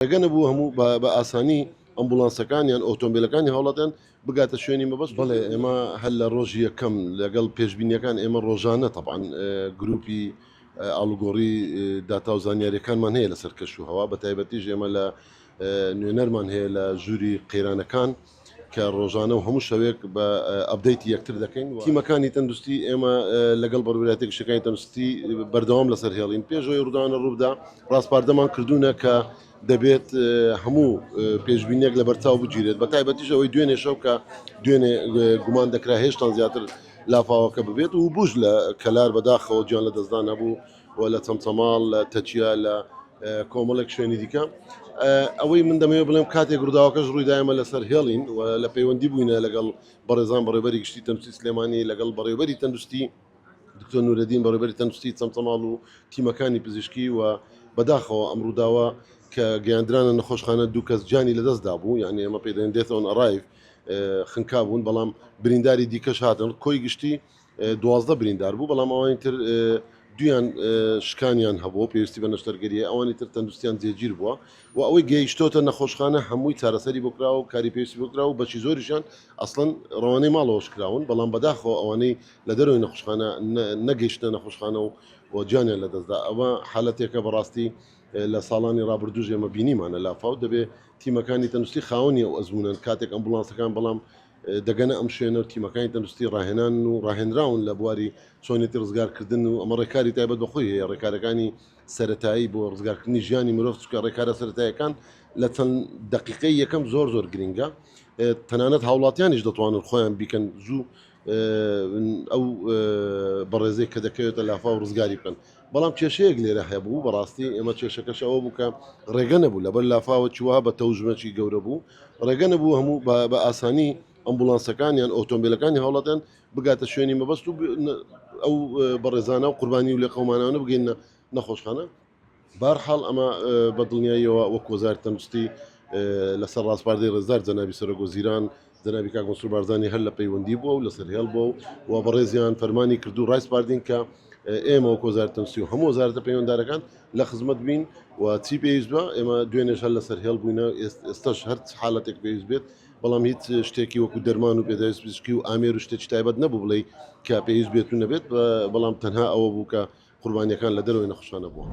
ڕێگە نەبوو هەموو بە ئاسانی ئەمبوڵانسەکان یان ئۆتۆمبیلەکانی هاوڵاتیان بگاتە شوێنی مەبەست بڵێ ئێمە هەر لە ڕۆژی یەکەم لەگەڵ پێشببینیەکان ئێمە ڕۆژانە تەبان گروپی ئالوگۆڕی داتا و زانیاریەکانمان هەیە لەسەر کەش و هەوا بە تایبەتیش ئێمە لە نوێنەرمان هەیە لە ژووری قەیرانەکان کە ڕۆژانە و هەموو شەوێک بە ئەبدەیتی یەکتر دەکەین تیمەکانی تەندروستی ئێمە لەگەڵ بەڕوراتی گشتەکانی تەندروستی بەردەوام لەسەر هێڵین پێشەوەی ڕوودانە ڕوودا ڕاستپاردەمان کردوونە کە دەبێت هەموو پێشببینێک لە بەرچاو بگیرێت بە تایبەتیش ئەوەی دوێنێ شەو کە دوێنێ گومان دەکرا هێشتان زیاتر لافاوەکە ببێت و بوش لە کەلار بەداخەوە گیان لە دەستدان هەبوو و لە چەمچەماڵ لە تەکیە لە کۆمەڵێک شوێنی دیکە ئەوەی من دەمەوێت بڵێم کاتێک ڕووداوەکەش ڕوویدایمە لەسەر هێڵین و لە پەیوەندی بووینە لەگەڵ بەڕێزان بەڕێبەری گشتی تەنسی سلێمانی لەگەڵ بەڕێبەری تەندروستی دکتۆر نورەدین بەڕێبەری تەندروستی چەمچەماڵ و تیمەکانی پزیشکی و بەداخەوە ئەم ڕووداوە کە گەیاندرانە نەخۆشخانە دوو کەس جانی لەدەستدا بوو یعنی ئەمە پێدەێن دێتەوەن ئەڕایف خنکا بوون بەڵام برینداری دیکەش هاتن کۆی گشتی دوازدە بریندار بوو، بەڵام ئەوانی تر دوویان شکانیان هەبوو پێویستی بە نەشتەرگەریە، ئەوانی تر تەندروستیان جێگیر بووە و ئەوەی گەیشتۆتە نەخۆشخانە هەمووی چارەسەری بۆ کراوە و کاری پێویستی بۆ کراوە و بەشی زۆریشیان ئەسڵەن ڕەوانەی ماڵەوەش کراون، بەڵام بەداخەوە ئەوانەی لە دەرەوەی نەخۆشخانە نەگەیشتنە نەخۆشخانە و گیانیان لەدەستدا، ئەوە حالەتێکە بەڕاستی لە ساڵانی ڕابردووش ئێمە بینیمانە لافاو، دەبێت تیمەکانی تەندروستی خاوەنی ئەو ئەزموونەن کاتێک ئەمبوڵانسەکان بەڵام دەگەنە ئەم شوێنە و تیمەکانی تەندروستی ڕاهێنان و ڕاهێنراون لە بواری چۆنێتی ڕزگارکردن و ئەمە ڕێکاری تایبەت بەخۆی هەیە ڕێکارەکانی سەتایی بۆ ڕزگارکردنی ژیانی مرۆڤ چکە ڕێکارە سەتایەکان لە چەند دقیقی یەکەم زۆر زۆر گرنگە تەنانەت هاوڵاتیانیش دەتوانن خۆیان بیکەن زوو ئەو بەڕێزەی کە دەکەوێتە لافا و ڕزگاری بکەن بەڵام کێشەیەک لێرە هەبوو بەڕاستی ئێمە کێشەکەش ئەوە بوو کە ڕێگە نەبوو لەبەر لافاوە چوە بە تەوژمەکی گەورە بوو ڕێگە نەبوو هەموو بە ئاسانی ئەمبولانسەکانیان ئۆتۆمبیلەکانی هەوڵەتەن بگاتە شوێنی مەبەست و ئەو بەڕێزانە و قوربانی و لە قەمانانە بگەینە نەخۆشخانە بارحاڵ ئەمە بە دڵنیاییەوە وەک وەزار تەندستی لەسەر ڕاستپاردەی ڕێزدار جەنابی سەرۆک وەزیران جەنابی کاک مەسرور بارزانی هەر لە پەیوەندی بووە و لەسەر هێڵ بووە و و بەڕێزیان فەرمانی کردو ڕایسپاردین کە ئێمە وەک وەزارت تەنسی و هەموو وەزارتە پەیوەندارەکان لە خزمەت بین و چی پێویست بە ئێمە دوێنێش هەر لەسەر هێڵ بووینە ئێستش هەر حالەتێک پێویست بێت بەڵام هیچ شتێکی وەکو دەرمان و پێداویست پزیشکی و ئامێر و شتێکی تایبەت نەبوو بڵێ کە پێویست بێت و نەبێت بەڵام تەنها ئەوە بوو کە قوربانیەکان لە دەرەوەی نەخشانە بووە.